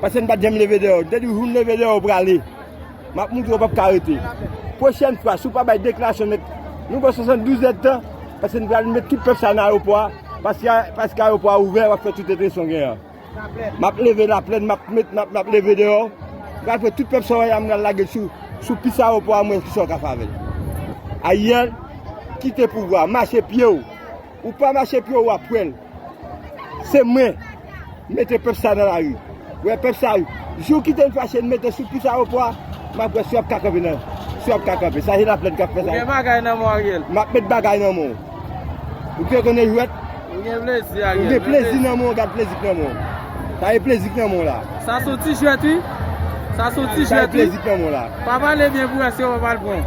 Paske m pat janm leve deyò. M te di w jou m leve deyò ou prale. M ap montre ou pap ka rete. Pwochèn fwa si w pa bay deklarasyon nèt nou ba w 72 èd tan paske n pral met tout pèp sa nan ayewopò a paske ayewopò a ouvè w ap fè tout entensyon w genyen an. M ap leve laplèn m ap met m ap leve deyò m pral pran tout pèp sa w wè a m pral lage l sou pis ayewopò a m wè kisa w ka fè avè l. Ariel kite pouvwa a. Mache pye w. Ou pa mache pye ou wap wèl. Se mwen mete pèp sa nan lari. Ou wè pèp sa wi. Jou w kite m fache n mete sou pous aewopò a, m ap wè si w ap ka kanpe nan. Si w ap ka kanpe. Sa se laplèn k ap fè sa. Ou gen bagay nan men w Ariel. M ap met bagay nan men w. Ou te konnen jwèt. Ou gen plezi Ariel. Ou gen plezi nan men w gad plezi k nan men w. Sa se plezi k nan men w la. Sa se yon ti jwèt wi. Sa se yon ti jwèt wi. Sa se plezi k nan men w la. Pa pale byen pou w wè si w ap al pran.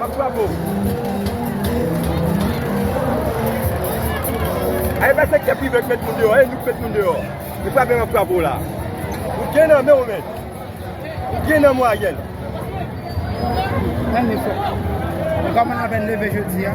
Map bravo. Ae pa sektè prive k met moun deyò e nou k met moun deyò. Nou pa bè map bravo la. Ou gen nan menw men. Ou gen nan mwayenn. Mwen mwen sot. Mwen kòman apen leve jodi a.